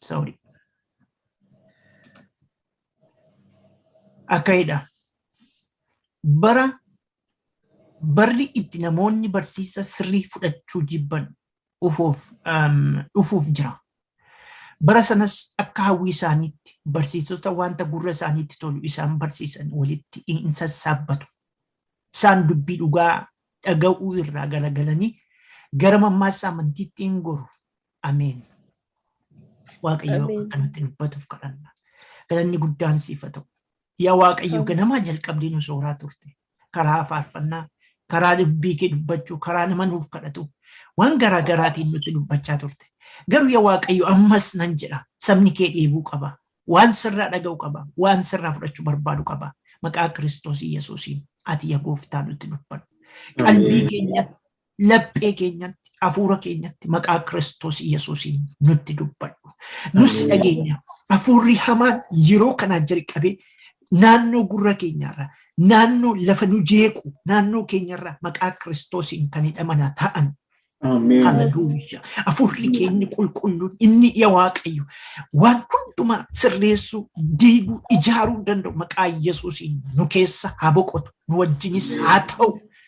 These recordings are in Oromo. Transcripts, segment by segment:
Sorry. Akkayidha. Bara barri itti namoonni barsiisa sirrii fudhachuu jibban dhufuuf um, dhufuuf jira. Bara sanas akka hawwii isaaniitti barsiisota wanta gurra isaaniitti tolu isaan barsiisan walitti hin sassaabbatu. Isaan dubbii dhugaa dhaga'uu irraa garagalanii gara mammaaksa amantiitti hin goru. Ameen. Waaqayyo Ameen. akka nutti dubbatuuf kadhanna. Galanni guddaan siif haa ta'u. Yaa Waaqayyo Ameen. ganamaa jalqabdee nu sooraa turte. Karaa faarfannaa, karaa dubbii kee dubbachuu, karaa nama nuuf kadhatu. Waan garaa garaatiin nutti dubbachaa turte. Garuu yaa Waaqayyo ammas nan jedha sabni kee dheebuu qaba. Waan sirraa dhaga'u qaba. Waan sirraa fudhachuu barbaadu qaba. Maqaa Kiristoos Yesuusiin ati yaa gooftaa nutti dubbadhu. Qalbii keenya laphee keenyatti hafuura keenyatti maqaa Kiristoos Yesuusiin nutti dubbadhu. Nus Ameen. dhageenya hafuurri hamaan yeroo kanaa jalqabee naannoo gurra keenyaarra naannoo lafa nu jeequ naannoo keenyarra maqaa Kiristoosiin kan hidhamanaa ta'an Ameen. Haleluuyaa. Hafuurri keenya qulqulluun inni ija waaqayyo waan hundumaa sirreessuu, diiguu, ijaaruu danda'u maqaa Yesuusiin nu keessa haa boqotu. Nu wajjinis haa ta'u.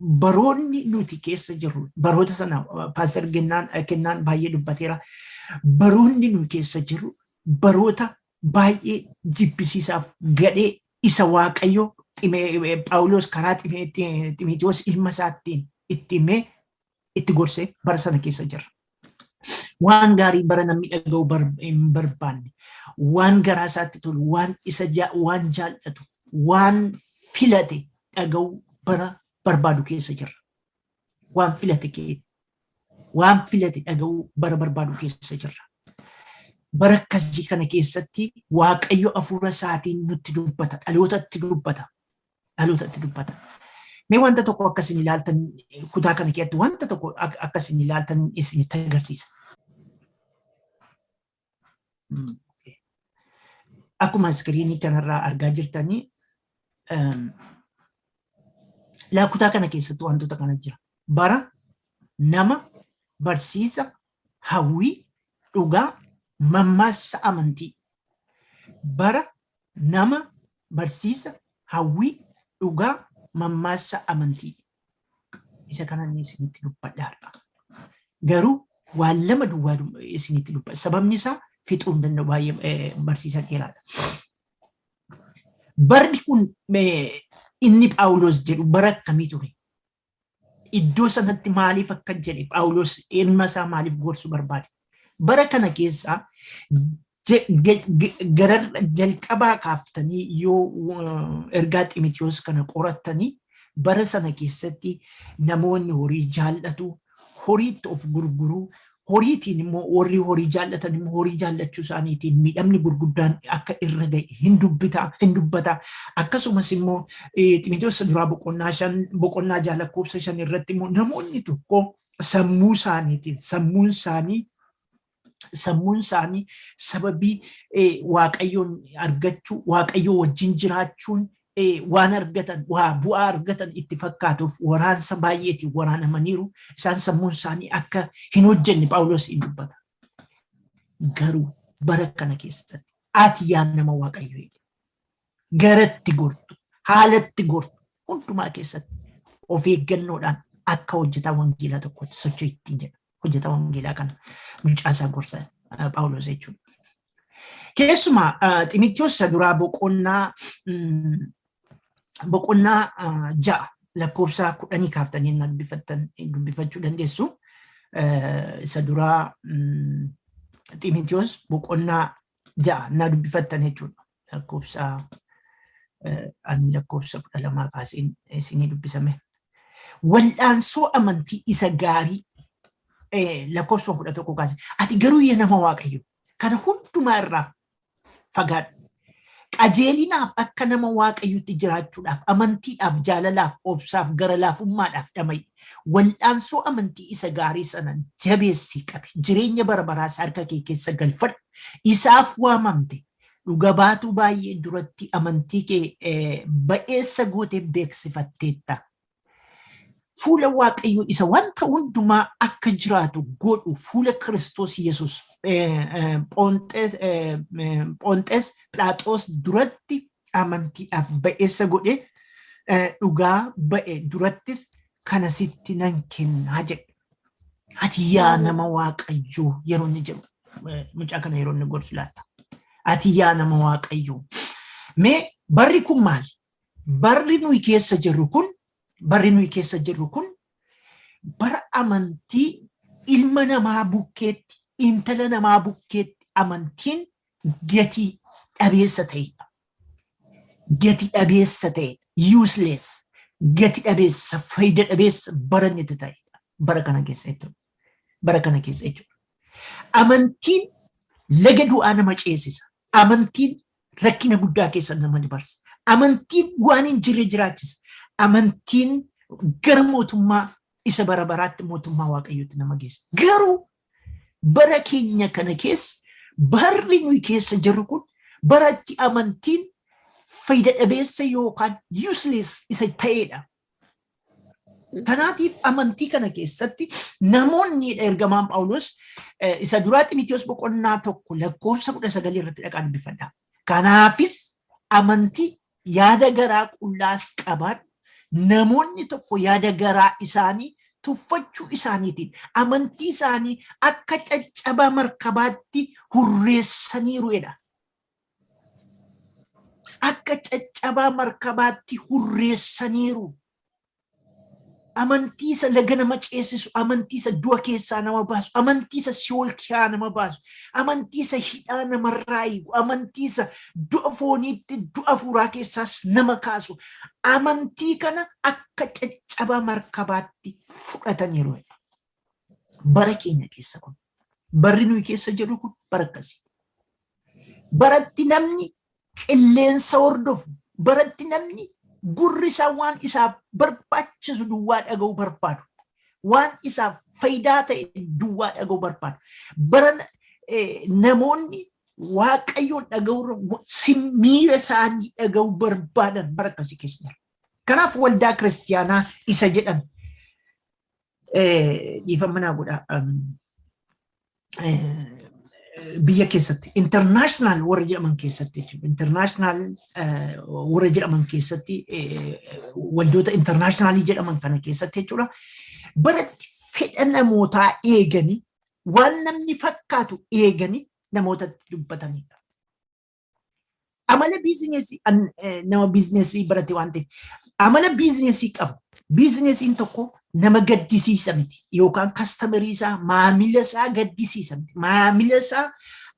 baroonni nuti keessa jirru baroota sana paaster kennaan kennaan baay'ee dubbateera baroonni nuti keessa jirru baroota baay'ee jibbisiisaaf gadhee isa waaqayyo Phaawulos karaa Ximitiyoos ilma isaattiin itti himee itti gorsee bara sana keessa jirra. Waan gaarii bara namni dhaga'u hin barbaanne, waan garaa isaatti tolu, waan isa waan jaallatu, waan filate dhaga'u bara barbaadu keessa jirra. Waan filate kee waan filate dhaga'u bara barbaadu keessa jirra. Bara akkasii kana keessatti Waaqayyo hafuura isaatiin nutti dubbata, dhalootatti dubbata. dhalootatti dubbata. Mee wanta tokko akka isin ilaaltan kutaa kana keessatti wanta tokko akka isin ilaaltan isinitti agarsiisa. Akkuma iskiriinii kanarraa argaa jirtanii laa kutaa kana keessatti wantoota kana jira. Bara, nama, barsiisa, hawwii, dhugaa, mammaassa amantii. Bara, nama, barsiisa, hawwii, dhugaa, mammaassa amantii. Isa kana inni isinitti dubbadha har'a. Garuu waan lama duwwaa dub- isinitti dubbadha. Sababni isaa fixuu hin danda'u baay'ee eh, barsiisa dheeraadha. Barri kun eh, inni Phaawulos jedhu bara akkamii ture? iddoo sanatti maaliif akka jedhe Phaawulos eenyummaa isaa maaliif gorsu barbaade. Bara kana keessaa gara jalqabaa kaaftanii yoo ergaa Ximitiyoos kana qorattanii bara sana keessatti namoonni horii jaallatu, horiitti of gurguruu, horiitiin immoo warri horii jaallatan immoo horii jaallachuu isaaniitiin miidhamni gurguddaan akka irra ga'e hin dubbita hin dubbata akkasumas immoo ximiteessa duraa boqonnaa shan boqonnaa ja'a lakkoofsa shan irratti immoo namoonni tokko sammuu isaaniitiin sammuun isaanii sammuun isaanii sababii waaqayyoon argachuu waaqayyoo wajjin jiraachuun waan argatan waa bu'aa argatan itti fakkaatuuf waraansa baay'eetiin waraanamaniiru isaan sammuun isaanii akka hin hojjenne phaawulos hin dubbata. Garuu bara kana keessatti ati yaa nama waaqayyo jedhe garatti gortu haalatti gortu hundumaa keessatti of eeggannoodhaan akka hojjetaa wangeelaa tokkotti socho'u ittiin jedha hojjetaa wangeelaa kana mucaasaa gorsa phaawulos jechuudha. Keessumaa Ximitiyoos isa duraa boqonnaa boqonnaa ja'a lakkoofsa kudhanii kaaftanii na dubbifattan dubbifachuu dandeessu. Isa duraa Ximitiyoos boqonnaa ja'a na dubbifattan jechuudha. lakkoofsa ani lakkoofsa kudha lamaa kaaseen isinii dubbisame. Wal'aansoo amantii isa gaarii lakkoofsa kudha tokko kaase. Ati garuu yaa nama waaqayyo kana hundumaa irraa fagaadhu. Qajeelinaaf akka nama waaqayyotti jiraachuudhaaf, amantiidhaaf, jaalalaaf, obsaaf, gara laafummaadhaaf dhama'i. Wal'aansoo amantii isa gaarii sana jabeessii qabi. Jireenya bara baraas harka kee keessa galfadhu. Isaaf waamamte Dhuga baatuu baay'ee duratti amantii kee ba'eessa gootee beeksifatteetta. Fuula Waaqayyoo isa wanta hundumaa akka jiraatu godhu fuula Kiristoos Yesuus Phonxees Philaaxoos duratti amantiidhaaf ba'eessa godhe dhugaa ba'e durattis kana sitti nan kennaa jedhe. Ati yaa nama waaqayyoo yeroo inni jedhu eh, mucaa kana yeroo inni gorsu laata. Ati yaa nama waaqayyoo. Mee barri kun maali? Barri nuyi keessa jirru kun barri nuyi keessa jirru kun bara amantii ilma namaa bukkeetti intala namaa bukkeetti amantiin gatii dhabeessa ta'edha. gati dhabeessa ta'edha. Useless. Gati dhabeessa, faayida dhabeessa baranni itti ta'edha. Bara kana keessa jechuudha. Bara kana keessa jechuudha. Amantiin laga du'aa nama ceesisa. Amantiin rakkina guddaa keessa nama dabarsa. Amantiin waan hin jirre jiraachisa. Amantiin gara mootummaa isa bara baraatti mootummaa waaqayyootti nama geessa. Garuu Bara keenya kana keessa barri nuyi keessa jirru kun bara itti amantiin fayyada dhabeessa yookaan useless isa ta'edha. Kanaatiif amantii kana keessatti namoonni ergamaan Phaawulos isa duraa Ximitiyoos boqonnaa tokko lakkoofsa kudha sagalii irratti dhaqaa dubbifadha. Kanaafis amantii Yaada garaa qullaas qabaan namoonni tokko yaada garaa isaanii tuffachuu isaaniitiin amantii isaanii akka caccabaa markabaatti hurreessaniiru jedha. Akka caccabaa markabaatti hurreessaniiru. Amantii isa laga nama ceessisu, amantii isa du'a keessaa nama baasu, amantii isa si'ool kiyaa nama baasu, amantii isa hidhaa namarraa hiiku, amantii isa du'a fooniitti du'a hafuuraa keessaas nama kaasu, amantii kana akka caccabaa markabaatti fudhataniiru. Bara keenya keessa kun. Barri nuyi keessa jedhu kun bara akkasii. Baratti namni qilleensa hordofu, baratti namni gurri isaa waan isaaf barbaachisu duwwaa dhaga'uu barbaadu. Waan isaaf faayidaa ta'e duwwaa dhaga'uu barbaadu. Bara namoonni waaqayyoon dhaga'uu miira isaanii dhaga'uu barbaadan bara akkasii keessa jira. Kanaaf waldaa kiristiyaanaa isa jedhan Dhiifama naa godhaa. biyya keessatti international warra jedhaman keessatti jechuudha. International warra jedhaman keessatti waldoota international jedhaman kana keessatti jechuudha. Baratti fedha namootaa eeganii waan namni fakkaatu eeganii namootatti dubbatanidha. Amala biizineesii an- eh, nama biizineesii barate waan ta'eef amala biizineesii qabu. Biizineesiin tokko nama gaddisiisa miti yookaan kastamerii isaa maamila isaa gaddisiisa miti. Maamila isaa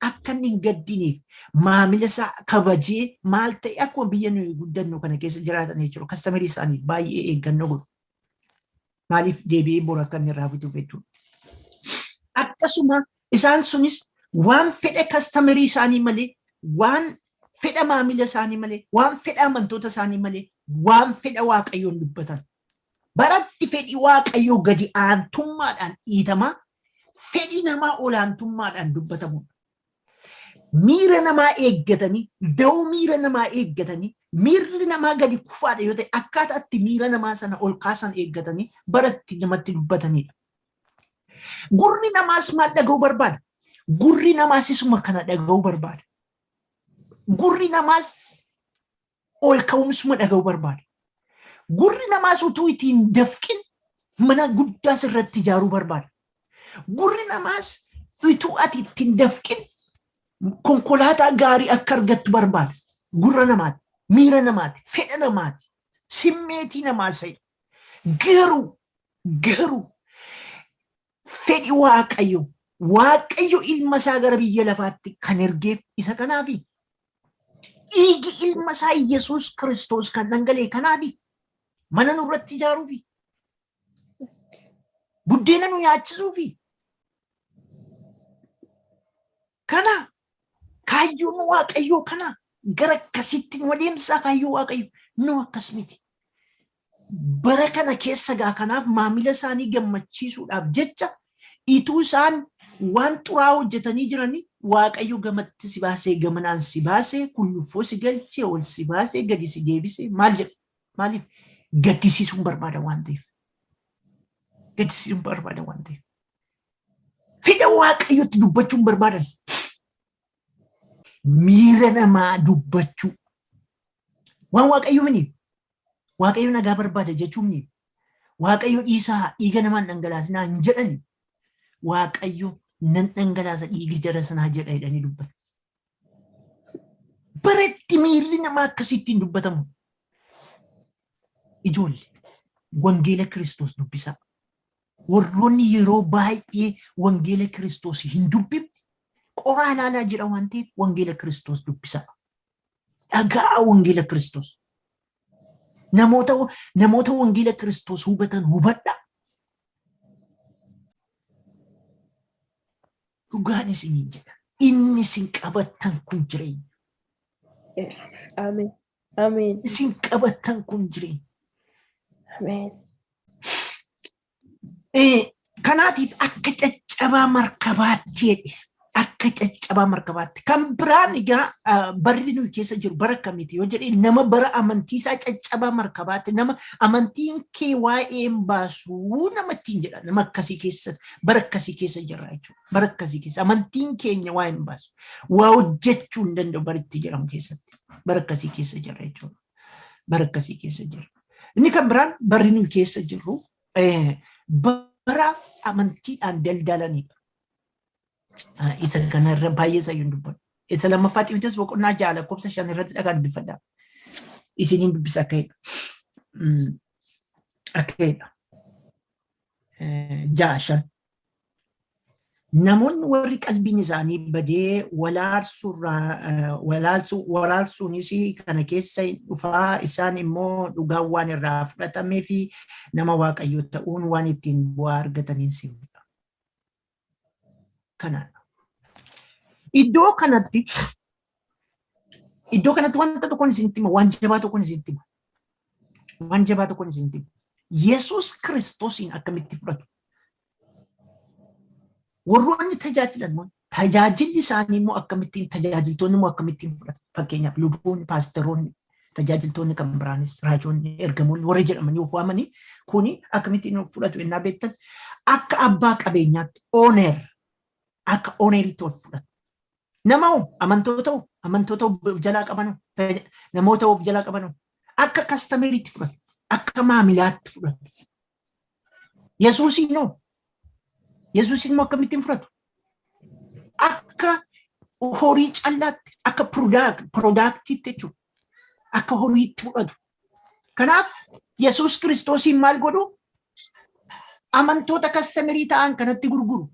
akka inni hin gaddineef maamila isaa kabajee maal ta'e akkuma biyya nuyi guddannu kana keessa jiraatan jechuudha. Kastamerii isaanii baay'ee eeggannoo godhu. Maaliif deebi'ee bor akka inni irraa bituuf jechuudha. Akkasuma isaan sunis waan fedha kastamerii isaanii malee waan fedha maamila isaanii malee waan fedha amantoota isaanii malee waan fedha waaqayyoon dubbatan. Baratti fedhi waaqayyoo gadi aantummaadhaan dhiitamaa fedhi namaa olaantummaadhaan dubbatamudha. Miira namaa eeggatanii, da'oo miira namaa eeggatanii, miirri namaa gadi kufaadha yoo ta'e akkaataa itti miira namaa sana ol kaasan eeggatanii bara itti namatti dubbatanidha. Gurri namaas maal dhaga'uu barbaada? Gurri namaas isuma kana dhaga'uu barbaada. Gurri namaas ol ka'umsuma dhaga'u barbaada. Gurri namaas utuu itti hin dafqin mana guddaas irratti ijaaruu barbaada. Gurri namaas utuu ati itti hin dafqin konkolaataa gaarii akka argattu barbaada. Gurra namaati, miira namaati, fedha namaati, simmeetii namaa se'a. Garuu, garuu Fedhi Waaqayyo, Waaqayyo ilma isaa gara biyya lafaatti kan ergeef isa kanaafi. Dhiigi ilma isaa Yesuus Kiristoos kan dhangalee kanaafi. Mana nurratti ijaaruufi. Buddeena nu nyaachisuufi. Kana Kaayyoon waaqayyoo kana gara akkasitti nu adeemsaa kaayyoo waaqayyo nu akkas miti. Bara kana keessa gaa kanaaf maamila isaanii gammachiisuudhaaf jecha ituu isaan waan xuraa hojjetanii jiranii waaqayyo gamatti si baasee gamanaan si baasee kulluffoo si galchee ol si baasee gadi si deebisee maal jedha maaliif gaddisiisuun barbaada waan ta'eef gaddisiisuun barbaada waan ta'eef Fedha waaqayyotti dubbachuun barbaadan. Miira namaa dubbachuu. Waan waaqayyo mini. Waaqayyo nagaa barbaada jechuun mini. Waaqayyo dhiisaa dhiiga namaan dhangalaasinaa hin jedhani. Waaqayyo nan dhangalaasa dhiiga jara sanaa jedha jedhanii dubbatu. Baratti miirri namaa akkasittiin dubbatamu. Ijoolli wangeela Kiristoos dubbisaa. Warroonni yeroo baay'ee wangeela Kiristoos hin dubbifne qoraa ilaalaa jira waan ta'eef wangeela Kiristoos dubbisaa. Dhaga'aa wangeela Kiristoos. Namoota namoota wangeela Kiristoos hubatan hubadhaa. Dhugaan isiniin jedha. Inni isin qabattan kun jireenya. Yes. Ameen. Ameen. Isin qabattan kun jireenya. Ameen. Eh, Kanaatiif akka caccabaa markabaatti jedhe. Akka caccabaa markabaatti. Kan biraan egaa ah, barri nuyi keessa jiru bara akkamiiti yoo jedhe nama bara amantii isaa caccabaa markabaatti nama amantiin kee waa'ee hin baasuu nama ittiin jedha nama akkasii keessa Bara akkasii keessa jirra jechuudha. Bara akkasii keessa amantiin keenya waa hin baasu. Waa hojjechuu hin danda'u bara itti jedhamu keessatti. Bara akkasii keessa jirra jechuudha. Bara akkasii keessa jirra. Inni kan biraan barri nuyi keessa jirru bara amantiidhaan daldalanidha. Isa kanarra baay'ee isaa hin dubbatu. Isa lammaffaa Ximitees boqonnaa ja'a lakkoofsa shan irratti dhagaa dubbifadha. Isiniin dubbisa akka jedha. Akka jedha. ja'a shan. Namoonni warri qalbiin isaanii badee waraarsuunis kana keessa dhufaa isaan immoo dhugaan waan irraa fudhatamee fi nama waaqayyo ta'uun waan ittiin bu'aa argataniin simudha. kanaadha. Iddoo kanatti iddoo kanatti wanta tokkoon isinitti hima, waan jabaa tokkoon isinitti hima. Waan jabaa tokkoon isinitti hima. Yesuus Kiristoosiin akkamitti fudhatu? Warroonni tajaajilan immoo tajaajilli isaanii immoo akkamittiin tajaajiltoonni immoo akkamittiin fudhatu? Fakkeenyaaf luboonni, paasteroonni, tajaajiltoonni kan biraanis raajoonni ergamoonni warri jedhamanii of waamanii kuni akkamittiin of fudhatu ennaa beektan akka abbaa qabeenyaatti ooneer akka ooneeritti of fudhatu. Nama hoo amantoota hoo amantoota of jalaa qabanu namoota of jalaa qabanu akka kastameeritti fudhatu akka maamilaatti fudhatu. Yesuusiin noo. Yesuusiin immoo akkamittiin fudhatu? Akka horii callaatti, akka piroodaaktiitti jechuudha. Akka horiitti fudhatu. Kanaaf Yesuus Kiristoosiin maal godhu? Amantoota kastamirii ta'an kanatti gurguru.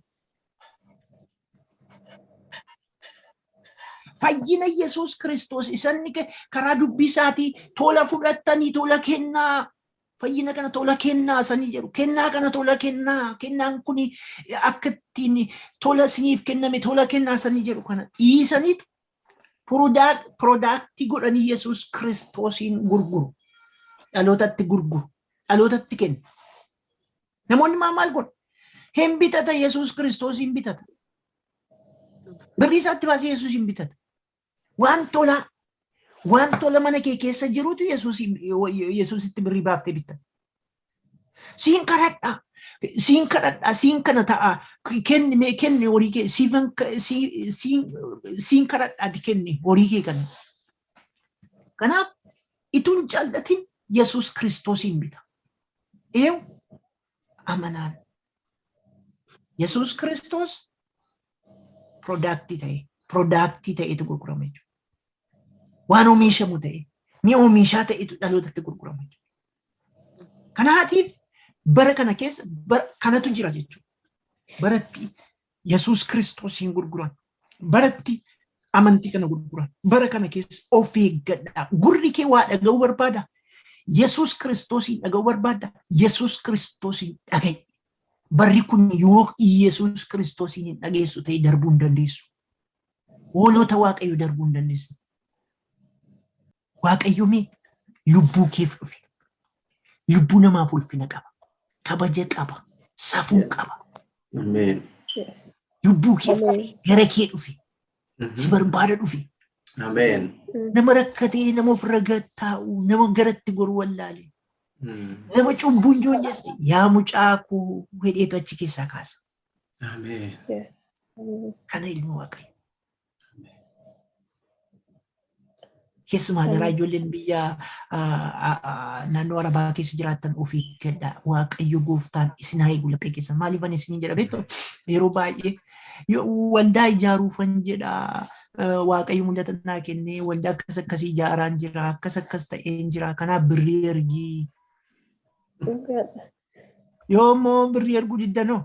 Fayyina Yesuus Kiristoos isanni karaa dubbii isaatii tola fudhattanii tola kennaa fayyina kana tola kennaa sanii jedhu kennaa kana tola kennaa kennaan kun akka ittiin tola isiniif kenname tola kennaa sanii jedhu kana dhiisaniitu piroodaaktii godhanii yesus kiristoosiin gurguru dhalootatti gurguru dhalootatti kennu namoonni maa maal godhu hin bitata yesus kiristoosiin bitata birrii isaatti baasee yesusiin bitata Waan tolaa. Waan tola mana kee keessa jirutu Yesuusitti birrii baaftee bitta. Siin kadhadha. Siin kadhadha. Siin kana ta'a. Kenni mee kenni horii kee siifan siin kadhadhaati kenni horii kee kana. Kanaaf ituun jaallatin Yesuus Kiristoosiin bita. Eewu amanaan Yesuus Kiristoos piroodaaktii ta'e piroodaaktii ta'etu gurgurama jechuudha. Waan oomishamu ta'e ni oomishaa ta'etu dhalootatti gurgurama jechuudha. Kanaatiif bara kana keessa bara kanatu jira jechuudha. Baratti Yesuus Kiristoosiin gurguran. Baratti amantii kana gurguran. Bara kana keessa of eeggadhaa. Gurri kee waa dhaga'uu barbaada. Yesuus Kiristoosiin dhaga'uu barbaada. Yesuus Kiristoosiin dhaga'i. Barri kun yoo Yesuus Kiristoosiin hin dhageessu ta'e darbuu hin dandeessu. Hoolota Waaqayyo darbuu hin dandeessu. Waaqayyo mee lubbuu keef dhufe. Lubbuu namaaf ulfina qaba. Kabaja qaba. Safuu qaba. Ameen. Yes. Lubbuu keef Ameen. dhufe. Gara kee dhufe. Si barbaada dhufe. Ameen. Nama rakkatee nama ofirra gad taa'u nama garatti goru wallaale. Nama cubbuun joonjesse yaa mucaa koo hedheetu achi keessaa kaasa. Ameen. Yes. Ameen. Kana ilmi waaqayyo. Keessumaa daraa ijoolleen biyya naannoo Arabaa keessa jiraatan ofii kenna waaqayyo gooftaan isin haa eegu laphee keessan maaliif ani isin jedha beektu yeroo baay'ee waldaa ijaaruufan jedha waaqayyo mul'ata naa kennee waldaa akkas akkasii ijaaraan jira akkas akkas ta'een jira kanaaf birrii ergii. Yoo immoo birrii erguu diddanoo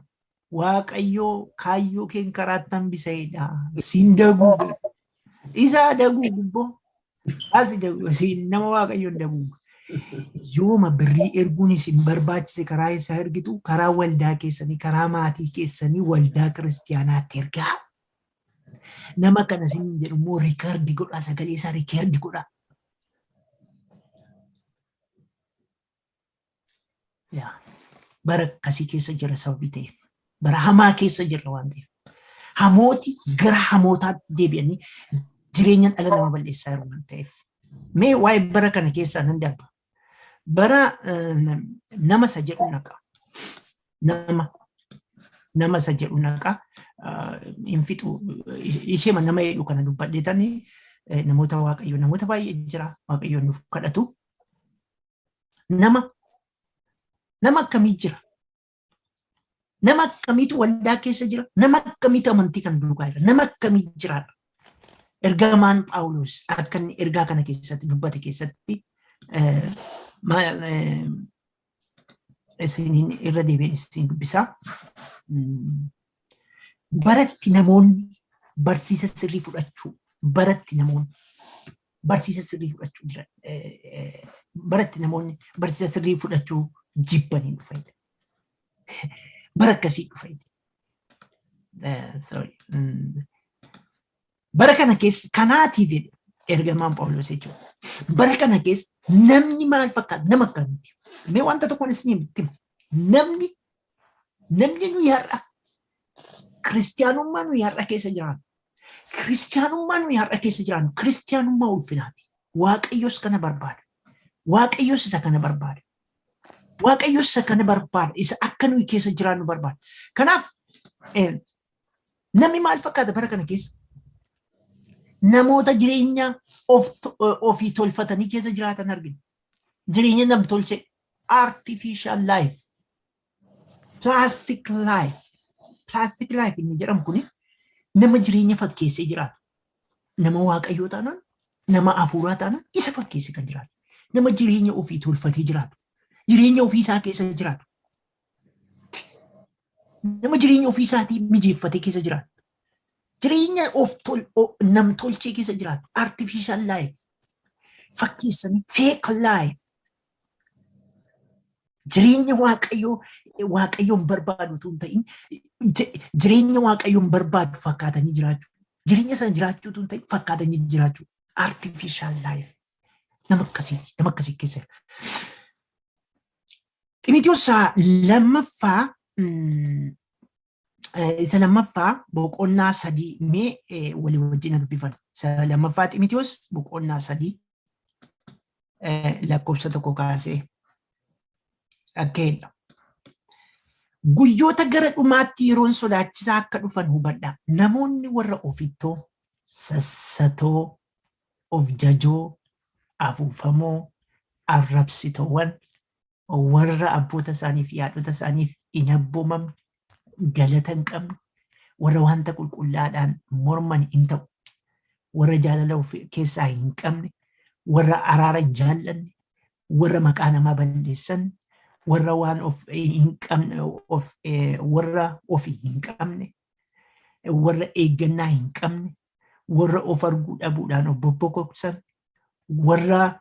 Waaqayyoo kaayyoo keen karaatti hambisa'edha. Siin daguu isa daguu gubboo. Asi daguu siin nama waaqayyoon daguu. Yooma birrii erguun isin barbaachise karaa isaa ergitu karaa waldaa keessanii karaa maatii keessanii waldaa kiristiyaanaatti ergaa. Nama kana isin jedhu immoo riikardi godhaa sagalee isaa riikardi godhaa. Yaa, bara akkasii keessa jira sababii ta'eef bara hamaa keessa jirra waan ta'eef hamooti gara hamootaatti deebi'anii jireenya dhala nama balleessaa jiru waan ta'eef mee waa'ee bara kana keessaa nan darba bara eh, nama isa jedhu naqa nama nama isa jedhu naqa ah, hin fixu isheema nama jedhu kana dubbadheetanii eh, namoota waaqayyo namoota baay'ee jira waaqayyo nuuf kadhatu Nama nama akkamii jira? Nama akkamiitu waldaa keessa jira? Nama akkamiitu amantii kana duukaa jira? Nama akkamii jiraata? Ergamaan Phaawulos akka inni ergaa kana keessatti dubbate keessatti isiniin irra deebiin isin dubbisaa. Baratti namoonni barsiisa sirrii fudhachuu baratti namoonni barsiisa sirrii fudhachuu jira. Baratti namoonni barsiisa sirrii fudhachuu jibbanii dhufanidha. Bara akkasii dhufanidha. Sorry. Bara kana keessa kanaatiif jedhe ergamaan Phaawulos jechuudha. Bara kana keessa namni maal fakkaata nama akkamitti? Mee wanta tokkoon isin himutti namni namni nuyi har'a kiristiyaanummaa nuyi har'a keessa jiraannu kiristiyaanummaa nuyi har'a keessa jiraannu kiristiyaanummaa ulfinaati. Waaqayyos kana barbaada. Waaqayyos isa kana barbaada. Waaqayyos isa kana barbaada. Isa akka nuyi keessa jiraannu barbaada. Kanaaf Namni maal fakkaata bara kana keessa? Namoota jireenya ofii tolfatanii keessa jiraatan argina. Jireenya nam tolchee artificial life, plastic life, plastic life inni jedhamu kuni nama jireenya fakkeessee jiraatu. Nama waaqayyoo taanaan, nama hafuuraa taanaan isa fakkeessee kan jiraatu. Nama jireenya ofii tolfatee jiraatu. Jireenya ofii isaa keessa jiraatu. Nama jireenya ofii isaatii mijeeffatee keessa jiraatu. Jireenya of namtolchee keessa jiraatu. Artificial life. Fakkeessanii fake life. Jireenya waaqayyoo waaqayyoon barbaadu utuu hin ta'in jireenya waaqayyoon barbaadu fakkaatanii jiraachuu. Jireenya sana jiraachuu utuu hin ta'in fakkaatanii jiraachuu. Artificial life. Nama akkasii nama akkasii keessa jira. Ximitiyoos isaa lammaffaa isa lammaffaa boqonnaa sadii mee walii wajjin dubbifan. Isa lammaffaa Ximitiyoos boqonnaa sadii lakkoofsa tokko kaasee akka jedha. Guyyoota gara dhumaatti yeroon sodaachisaa akka dhufan hubadha. Namoonni warra ofittoo, sassatoo, of jajoo, afuufamoo, arrabsitowan, warra abboota isaanii fi haadhota isaaniif hin abboomamne, galata hin qabne, warra wanta qulqullaadhaan morman hin ta'u, warra jaalala of keessaa hin qabne, warra araara hin jaallanne, warra maqaa namaa balleessan, warra waan of hin qabne, of, warra ofi hin qabne, warra eeggannaa hin qabne, warra of arguu dhabuudhaan of bobbokoksan, warra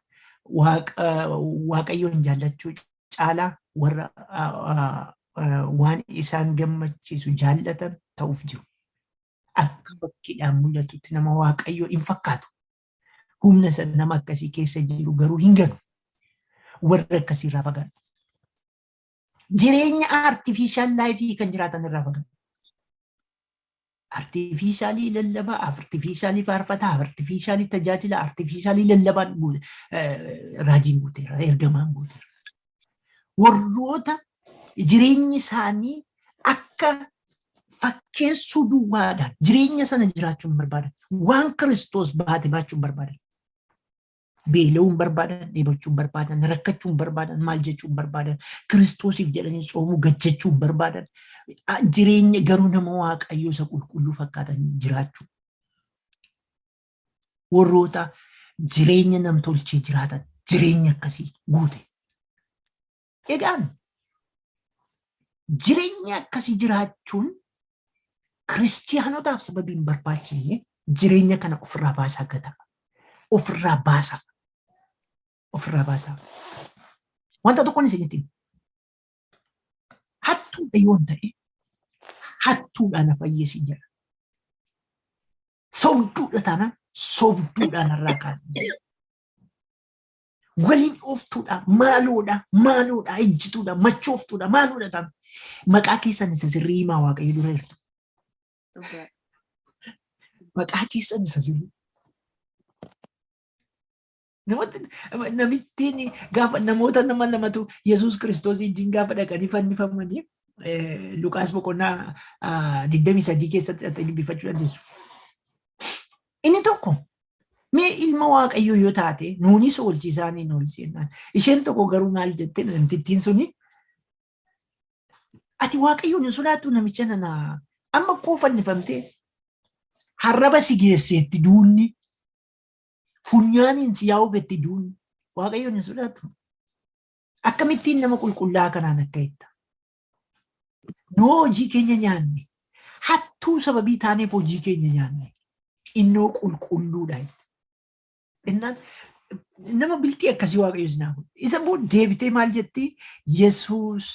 waaqayyoon jaallachuu caalaa warra waan isaan gammachiisu jaallatan ta'uuf jiru. Akka bakkeedhaan mul'atutti nama waaqayyoo hin fakkaatu. Humna isa nama akkasii keessa jiru garuu hin galu. Warra akkasiirraa fagaadhu. jireenya artificial life kan jiraatan irraa fagaatu. Artificialii lallabaa, artificialii faarfataa, artificialii tajaajila, artificialii lallabaan guute- eh, raajiin guuteera, ergamaan guuteera. Warroota jireenyi isaanii akka fakkeessuu duwwaadhaan jireenya sana jiraachuu hin barbaadan. Waan Kiristoos baate baachuu hin barbaadan. beela'uun barbaadan, dheebochuun barbaadan, rakkachuun barbaadan, maal jechuun barbaadan, kiristoosiif jedhanii soomuu gad jechuun barbaadan, jireenya garuu nama waaqayyoo isa qulqulluu fakkaatanii jiraachuu. Warroota jireenya namtolchee jiraatan jireenya akkasii guute. Egaan jireenya akkasii jiraachuun kiristiyaanotaaf sababii hin barbaachifne jireenya kana ofirraa baasaa gataa. Ofirraa baasaa. Ofirraa baasaa. Wanta tokkoon isinitti hima. Hattuudha yoon ta'e hattuudhaan na fayyisi jedha. Sobduudha taanaan sobduudhaan irraa kaasee jedha. Waliin dhooftuudha, maaloodha, maaloodha, ejjituudha, machooftuudha, maaloodha taam. Maqaa keessan isa sirrii himaa waaqayyo dura jirtu. Dhugaa. Maqaa keessan isa sirrii. Namoota namittiin gaafa namoota nama lamatu Yesuus Kiristoos wajjin gaafa dhaqanii fannifamanii eh, Luqaas boqonnaa ah, 23 keessatti dhaqanii dubbifachuu dandeessu. Inni tokko mee ilma waaqayyoo yoo taate nuunis oolchi isaaniin oolchi jennaan. Isheen tokko garuu maal jette namtittiin suni ati waaqayyoon hin sodaattu namicha nana amma akkoo fannifamtee harraba si geesseetti duunni funyaaniin si yaa'uufetti duunni waaqayyoon hin sodaattu. Akkamittiin nama qulqullaa kanaan akka itta. Noo hojii keenya nyaanne. Hattuu sababii taaneef hojii keenya nyaanne. Innoo qulqulluudha. Innaan nama biltii akkasii waaqayyo sinaa godhe. Isa immoo deebitee maal jetti? Yesuus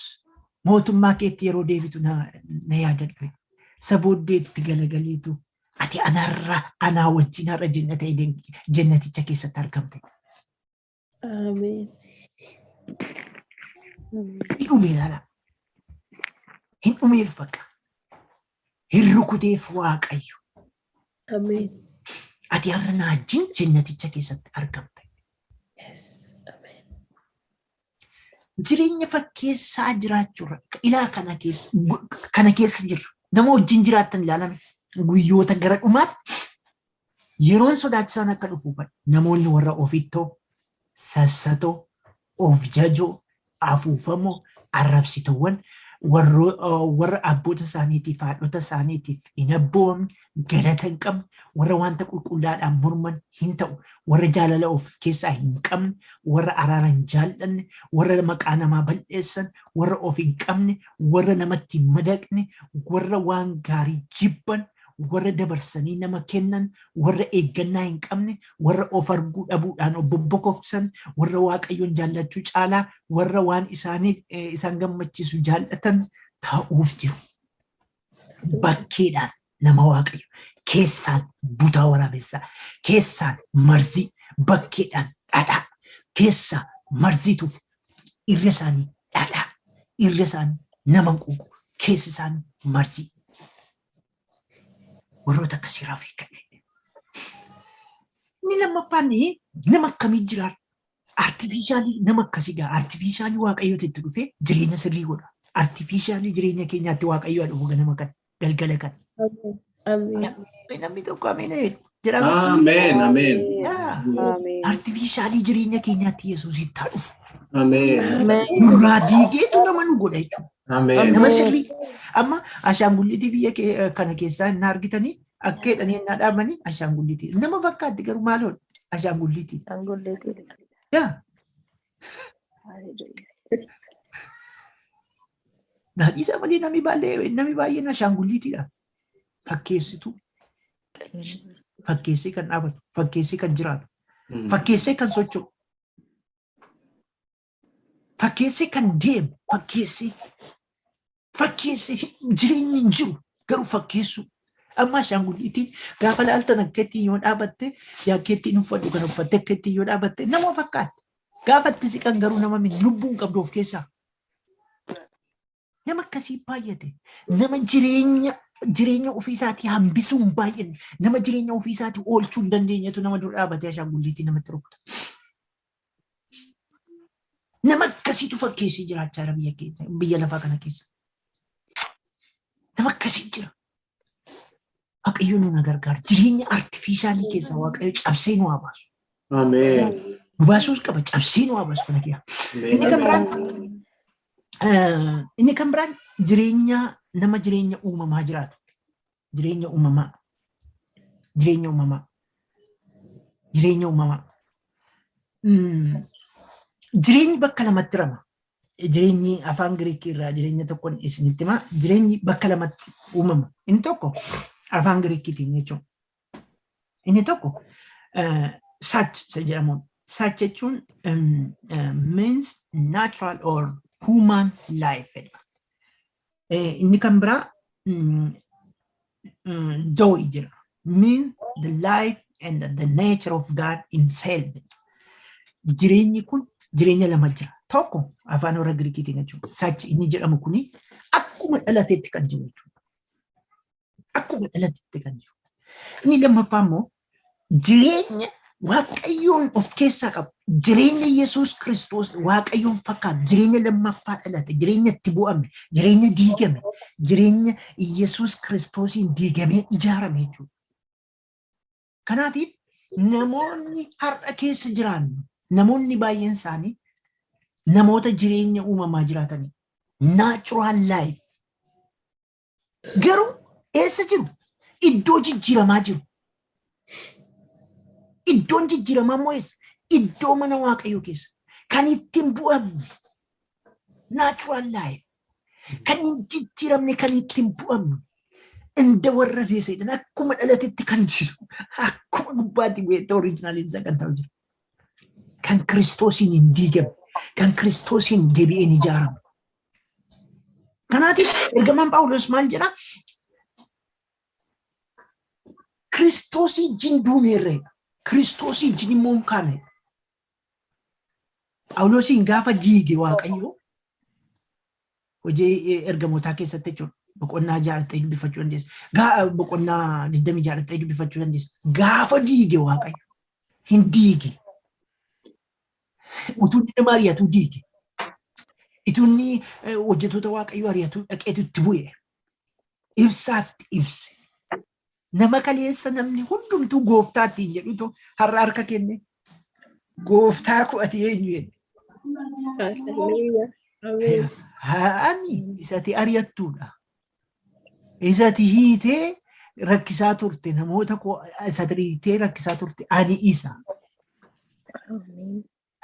mootummaa keetti yeroo deebitu na na yaadadhu. Isa booddee itti galagaleetu ati anarra anaa wajjin har'a jennata jennaticha keessatti argamte. Ameen. Ni dhume ilaala. Hin dhumeef bakka. Hin rukuteef waaqayyo. Ameen. Ati har'a na wajjin jennaticha keessatti argamta. Yes. Ameen. Jireenya fakkeessaa jiraachuurra ilaa kana keessa gu- kana keessa jirra. Nama wajjin jiraattan ilaalame guyyoota gara dhumaatti Yeroon sodaachisaan akka dhufu hubadhu. Namoonni warra ofittoo, sassatoo, of jajoo, afuufamoo, arrabsitoowwan warra abboota isaaniitiif, haadhota isaaniitiif hin abboomamne, galata hin qabne, warra wanta qulqullaadhaan morman hin ta'u, warra jaalala of keessaa hin qabne, warra araara hin jaallanne, warra maqaa namaa bal'eessan, warra of hin qabne, warra namatti hin madaqne, warra waan gaarii jibban, warra dabarsanii nama kennan, warra eeggannaa hin qabne, warra of arguu dhabuudhaan of bobbokoksan, warra Waaqayyoon jaallachuu caalaa warra waan isaanii eh, isaan gammachiisu jaallatan ta'uuf jiru. Bakkeedhaan nama Waaqayyo keessaan butaa waraabessaa, keessaan marzii, bakkeedhaan dhadhaa, keessaa marziituuf irra isaanii dhadhaa, irra isaanii nama hin quuqu, keessi isaanii marzii. Warroota akkasii irraa of eeggadhe. Inni lammaffaan nama akkamii jiraata? Artifiishaalii nama akkasii gaa artifiishaalii waaqayyooti itti dhufee jireenya sirrii godha. Artifiishaalii jireenya keenyaatti waaqayyoo dhufu ganama kana galgala kana. Ameen. Namni tokko ameen jedhu. jedhama. Ameen. Ameen. Ameen. Artifiishaalii jireenya keenyaatti Yesuusitti haa dhufu. Ameen. Ameen. Nurraa diigeetu nama nu godha jechuudha. Ameen. Nama sirrii. Amma ashaangulliitii biyya kee- kana keessaa hin argitanii akka jedhanii hin dhaabanii ashaangulliitii. Nama fakkaatti garuu maaloodha? Ashaangulliitii. Ashaangulliitii. Yaa naadhiisa malee namni baay'ee namni baay'een ashaangulliitiidha. Fakkeessituu. Fakkeessee kan dhaabatu, fakkeessee kan jiraatu, fakkeessee kan socho'u, fakkeessee kan deemu, fakkeessee, fakkeessee jireenyi hin jiru garuu fakkeessuu. Amma ashaangulliitiin gaafa laaltan akka ittiin yoo dhaabatte yaa akka ittiin uffadhu kan uffatte akka ittiin yoo dhaabatte nama fakkaatti. Gaafa itti siqan garuu nama miti lubbuun qabdu of keessaa. Nama akkasii baay'ate. Nama jireenya jireenya ofiisaatii hambisuu hin baay'anne. Nama jireenya ofiisaatii oolchuu hin dandeenyetu nama dura dhaabatee ashaangulliitii namatti rukuta. Nama akkasiitu fakkeessee jiraachaa jira biyya keenya biyya lafaa kana keessa. Nama akkasii jira. Waaqayyo nu na gargaara. Jireenya artifiishaalii keessaa Waaqayyo cabsee nu haa baasu. Ameen. Nu baasuus qaba cabsee nu haa baasu kana kiyyaa. Inni kan biraan eh, inni kan biraan jireenya nama jireenya uumamaa jiraatu. Jireenya uumamaa. Jireenya uumamaa. Jireenya uumamaa. Mm. Jireenyi bakka lamatti rama. jireenyi afaan Giriikii irraa jireenya tokkoon isinitti hima. Jireenyi bakka lamatti uumama. Inni tokko afaan Giriikiitiin jechuudha. Inni tokko saach isa jedhamuun. Saach jechuun means natural or human life jedha. Inni kan biraa joy jira. Mean the life and the nature of God himself. Jireenyi kun jireenya lama jira. Tokko afaan warra Giriikiitiin jechuudha. Sachi inni jedhamu kuni akkuma dhalateetti kan jiru jechuudha. Akkuma dhalatitti kan jiru. Inni lammaffaa immoo jireenya waaqayyoon of keessaa qabu. Jireenya Yesuus Kiristoos waaqayyoon fakkaatu. Jireenya lammaffaa dhalate. Jireenya itti bu'ame. Jireenya diigame. Jireenya Yesuus Kiristoosiin diigamee ijaarame jechuudha. Kanaatiif namoonni har'a keessa jiraannu namoonni baay'een isaanii namoota jireenya uumamaa jiraatanii natural life Garuu eessa jiru? Iddoo jijjiiramaa jiru. Iddoon jijjiiramaa immoo eessa? Iddoo mana waaqayyoo keessa. Kan ittiin bu'amne. Natural life. Kan hin jijjiiramne kan ittiin bu'amne. Inda warra deeseedhaan akkuma dhalatetti kan jiru. Akkuma gubbaatti bu'eetti oriijinaaliin isaa kan ta'u jira. Kan kiristoosiin hin diigamne. Kan kiristoosiin deebi'een ijaaramu. Kanaatiif ergamaan Phaawulos maal jedha? Kiristoosii jin duuneerree Kiristoosii jin immoo hin kaane. Phaawulosiin gaafa diige Waaqayyo hojii ergamootaa keessatti jechuudha. Boqonnaa jaalattee dubbifachuu dandeessa. Gaa boqonnaa digdami jaalattee dubbifachuu dandeessa. Gaafa diige Waaqayyo hin diige. Utuu inni nama ari'atuu diige. Utuu inni eh, hojjettoota waaqayyoo ari'atuu dhaqeetu itti bu'e. Ibsaatti ibse. Nama kaleessa namni hundumtuu gooftaa ittiin jedhutu har'a harka kenne. Gooftaa koo ati eenyu jedhe. Hallelujah. Ameen. Ani isati ari'attuudha. Isati hiitee rakkisaa turte namoota koo isati hiitee rakkisaa turte ani isa.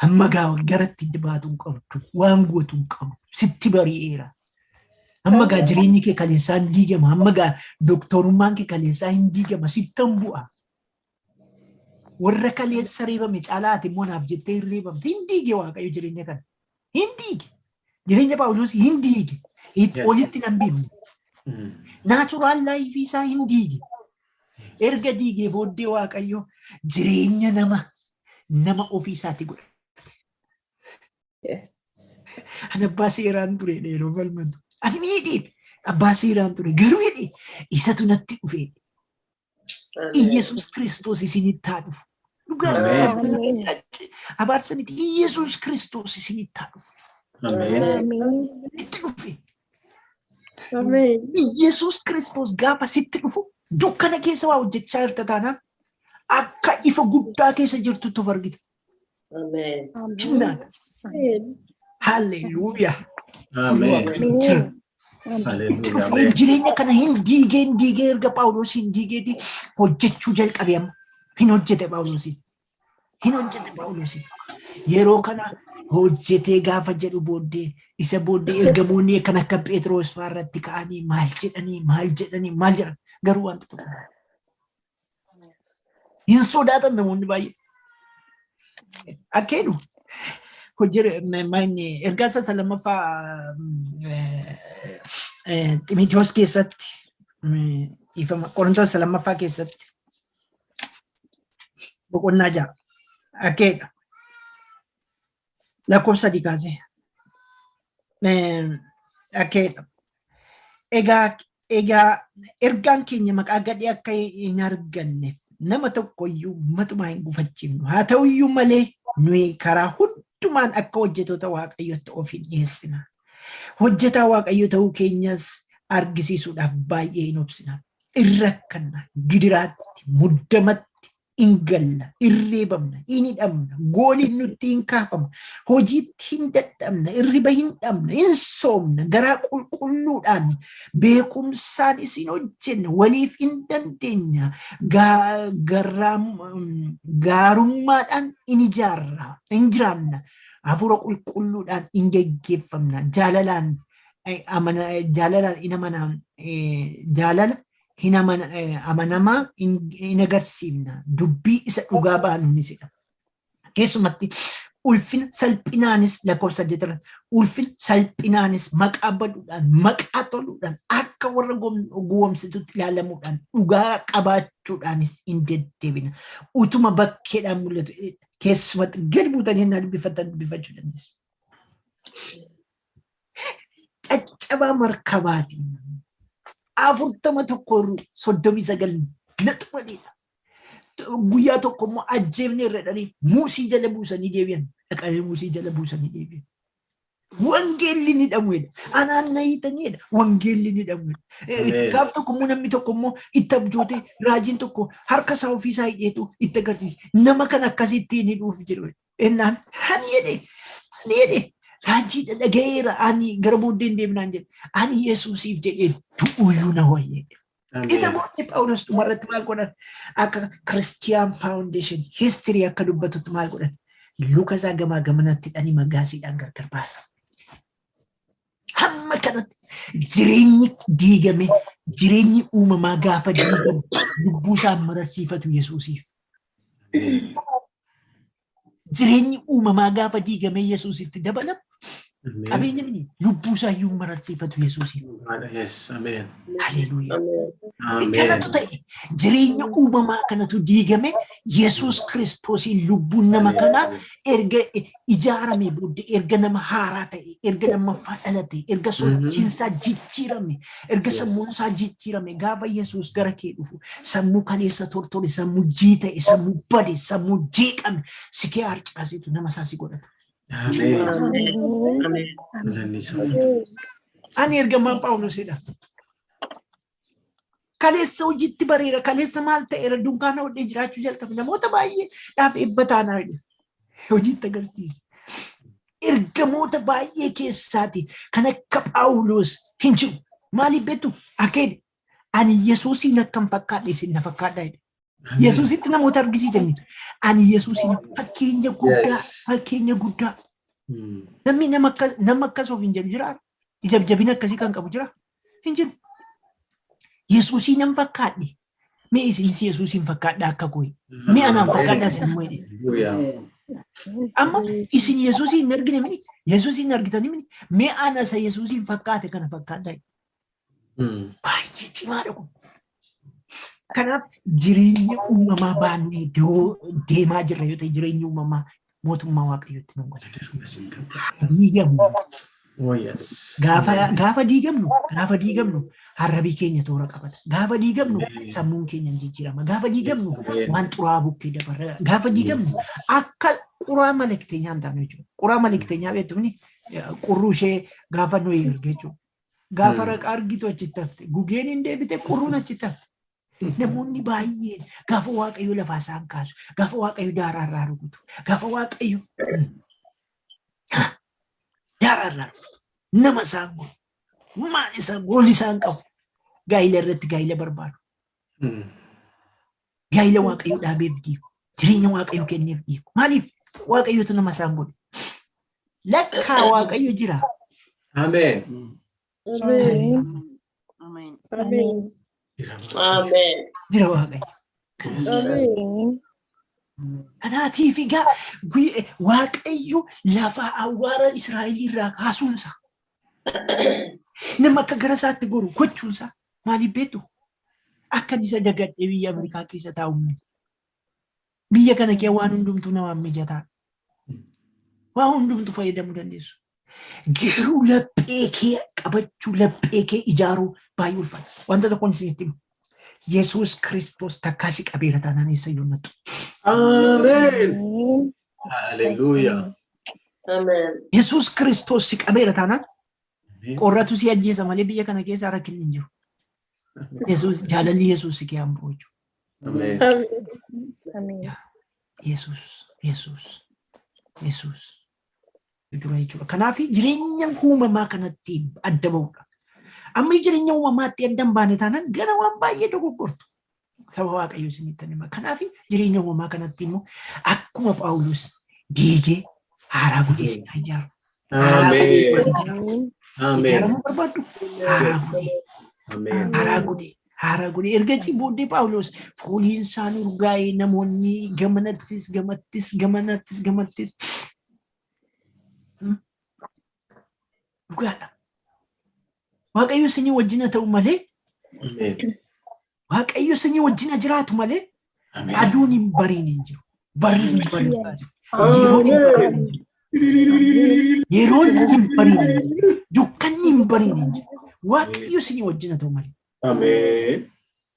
Amma gaa garatti baatu hin qabdu waan gootu hin qabdu sitti bari'eera. Amma gaa jireenyi kee kaleessaa hin diigama amma gaa doktorummaan kee kaleessaa hin diigama sittan bu'a. Warra kaleessa reebame caalaa ati immoo naaf jettee hin reebamte hin diige waaqayyo jireenya kana. Hin diige. Jireenya Paawuloos hin diige. Itti Yes. olitti nan beeku. Mm. Naachuraal laayifii isaa hin diige. Erga diigee booddee waaqayyo jireenya nama nama ofii isaatti godha. Yes. Ani abbaa seeraan ture dheeroo falmatu. Ani miidhe abbaa seeraan ture garuu hidhe isatu natti dhufe. Iyyasuus Kiristoos isinitti haa dhufu. Dhugaa abaarsa miti Iyyasuus Kiristoos isinitti haa dhufu. Itti dhufe. Iyyasuus Kiristoos gaafa sitti dhufu dukkana keessa waa hojjechaa jirta taanaan akka ifa guddaa keessa jirtutti of argita. Amen. Kennaan. Haalleluuyaa. Amen. Jira. Hallelujah. Dhufeen jireenya kana hin diigee hin diigee erga Phaawulos hin diigeeti hojjechuu jalqabe amma. Hin hojjete Phaawulos. Hin hojjete Phaawulos. Yeroo kana hojjetee gaafa jedhu booddee isa booddee ergamoonni kan akka Phexros fa'aa irratti ka'anii maal jedhanii maal jedhanii maal jedhan garuu wanta tokko Hin sodaatan namoonni baay'ee. Akka jedhu hojii ergaa isa lammaffaa Ximitiyoos keessatti dhiifama Qorintoos isa lammaffaa keessatti boqonnaa ja'a akka jedha. Lakkoofsa sadii kaasee. Egaa egaa ergaan keenya maqaa gadhee akka hin arganneef nama tokko iyyuu matumaa hin gufachiifnu. Haa ta'u iyyuu malee nuyi karaa hundumaan akka hojjetoota waaqayyootti of hin dhiyeessina. Hojjetaa waaqayyo ta'uu keenyas argisiisuudhaaf baay'ee hin obsina. Irra kanna gidiraatti, muddamatti, hin galla, hin reebamna, hin hidhamna, gooliin nutti hin kaafama, hojiitti hin dadhabna, hirriba hin dhabna, hin soomna, garaa qulqulluudhaan beekumsaan isin hojjenna, waliif hin dandeenya, gaa- garraam- gaarummaadhaan hin ijaarra, hin jiraanna, hafuura qulqulluudhaan hin geggeeffamna, jaalalaan eh, amana- jaalalaan hin amanaa, eh, jaalala hin amana- eh, amanamaa hin hin agarsiifna. Dubbii isa dhugaa baanuunis jedha. Keessumatti ulfina salphinaanis lakkoofsa saddeet irratti ulfina salphinaanis maqaa baduudhaan maqaa toluudhaan akka warra gom- gowwoomsitutti ilaalamuudhaan dhugaa qabaachuudhaanis hin deddeebina. Utuma bakkeedhaan mul'atu eh, keessumatti gad buutanii hin dubbifatan dubbifachuu dandeessu. caccabaa markabaatiin afurtama tokko soddomii sagal naxumadheedha. Guyyaa tokko immoo ajjeefne irra dhanii muusii jala buusanii deebi'an. Dhaqanii muusii jala buusanii deebi'an. Wangeelli ni dhamuedha. Anaan na hiitaniidha. Wangeelli ni dhamuedha. Ameen. Gaaf tokko immoo namni tokko immoo itti abjootee raajiin tokko harka isaa ofii isaa hidheetu itti agarsiise. Nama kan akkasitti hin hidhuuf jedhu. Ennaan ani jedhe ani jedhe raajii dhagayeera ani gara booddee hin deemnaan jedhe ani Yesuusiif jedhee du'uuyyuu na wayyee. Isa booddee Phaawulos dhumarratti maal godhan akka Kiristiyaan Faawundeeshin histirii akka dubbatutti maal godhan luka isaa gamaa gamanatti dhanii magaasiidhaan gargar baasan. Hamma kanatti jireenyi diigame jireenyi uumamaa gaafa diigamu lubbuu isaa mararsiifatu Yesuusiif. Jireenyi uumamaa gaafa diigamee Yesuus itti dabalamu qabeenya mini lubbuu isaa iyyuu mararsiifatu Yesuusiif. Yes, ameen. Haleluuyaa. Ameen. Kanatu ta'e jireenya uumamaa kanatu diigame Yesuus Kiristoosiin lubbuun nama kanaa erga ijaaramee booddee erga nama haaraa ta'e, erga lammaffaa dhalate, erga sochiinsaa jijjiirame, erga sammuun isaa jijjiirame, gaafa Yesuus gara kee dhufu sammuu kaleessa tortore, sammuu jii ta'e, sammuu bade, sammuu jeeqame, si kee harcaasetu nama isaa si godhata. Ani ergamaan Phaawulosidha. Kaleessa hojiitti bareera, kaleessa maal ta'eera dunkaana hodhee jiraachuu jalqabe namoota baay'ee dhaaf eebba taanaa jedhe. Hojiitti agarsiise. Ergamoota baay'ee keessaati kan akka Phaawuloos hin jiru. Maaliif beektu? Akeedi. Ani Yesuusiin akkan fakkaadhe isin na fakkaadhaa jedhe. Yesuusitti namoota argisiisanii. Ani Yesuusiin fakkeenya guddaa, fakkeenya guddaa. Namni nama akkas of hin jedhu jira. Ijabjabina akkasii kan qabu jira. Hin jiru. Yesuusii nan fakkaadhe. Mee isinis Yesuusiin fakkaadhaa akka kooyi. Mee anaan fakkaadhaa isin immoo jedhe. Amma isin Yesuusiin hin argine mini? Yesuusiin hin argitanii mini? Mee ana isa Yesuusiin fakkaate kana fakkaadhaa. Baay'ee cimaadha kun. Kanaaf jireenya uumamaa baannee deemaa jirra yoo ta'e jireenya uumamaa mootummaa waaqayyootti nu godha. Diigamnu. Gaafa diigamnu gaafa diigamnu harrabii keenya toora qabata. Gaafa diigamnu sammuun keenya ni jijjiirama. Gaafa diigamnu waan xuraa'aa bukkee dabarra. Gaafa diigamnu akka quraa malakiteenyaa hin taane jechuudha. Quraa malakiteenyaa beektumni qurruu ishee gaafa nuyi erge jechuudha. Gaafa raqa argitu achitti hafte. Gugeen hin deebite qurruun achitti hafte. Namoonni baay'een gaafa waaqayyo lafaa isaan kaasu, gaafa waaqayyo daaraa irraa rukutu, gaafa waaqayyo daaraa irraa rukutu, nama isaan godhu, maal isaan goolli isaan qabu, gaa'ila irratti gaa'ila barbaadu. Gaa'ila Waaqayyoo dhaabeef diigu. Jireenya Waaqayyoo kenneef diigu. Maaliif? Waaqayyootu nama isaan godhe. Lakkaa Waaqayyo jira. Ameen. Jira Waaqayyo. Kanaatiif egaa Waaqayyo lafa awwaara Israa'el irraa kaasuunsa. Nama akka gara isaatti goru gochuunsa. Maaliif beektu? Akkan isa dagadhee biyya Ameerikaa keessa taa'u miti. Biyya kana kee waan hundumtuu namaaf mijataa. Waa hundumtu fayyadamuu dandeessu. Garuu laphee kee qabachuu, laphee kee ijaaruu baay'ee ulfaata. Wanta tokkoon isinitti himu. Yesuus Kiristoos takkaa si qabeera taanaan eessa iyyuu hin nattu. Ameen. Haleluuyaa. Amen. Yesuus Kiristoos si qabeera taanaan Qorratu si ajjeesa malee biyya kana keessa rakkinni hin jiru. Yesuus jaalalli Yesuus si keessa bu'u jechuudha. Yesuus Yesuus Yesuus dura jechuudha. Kanaaf jireenya uumamaa kanatti adda ba'uudha. Amma jireenya uumamaatti adda hin baane taanaan gara waan baay'ee dogoggortu. Saba Waaqayyoo isinitti hima. Kanaaf jireenya uumamaa kanatti immoo akkuma Phaawulos diigee haaraa godhee isin haa ijaaru. Haaraa godhee isin haa ijaaru. Ameen. Ijaaramuu barbaaddu? Haaraa godhee. Ameen. Haaraa godhee. Haaraa godhee. Ergasii booddee Phaawulos fooliin isaa urgaa'ee namoonni gamanattis gamattis gamanattis gamattis Dhugaadha. Waaqayyo isinii wajjin haa ta'u malee Ameen. Waaqayyo isinii wajjin haa jiraatu malee Ameen. aduun hin bariin hin jiru. Barri hin bariin hin jiru. Yeroon hin bariin hin jiru. Yeroon hin bariin hin jiru. Dukkanni hin bariin hin jiru. Waaqayyo isinii wajjin haa ta'u malee. Ameen.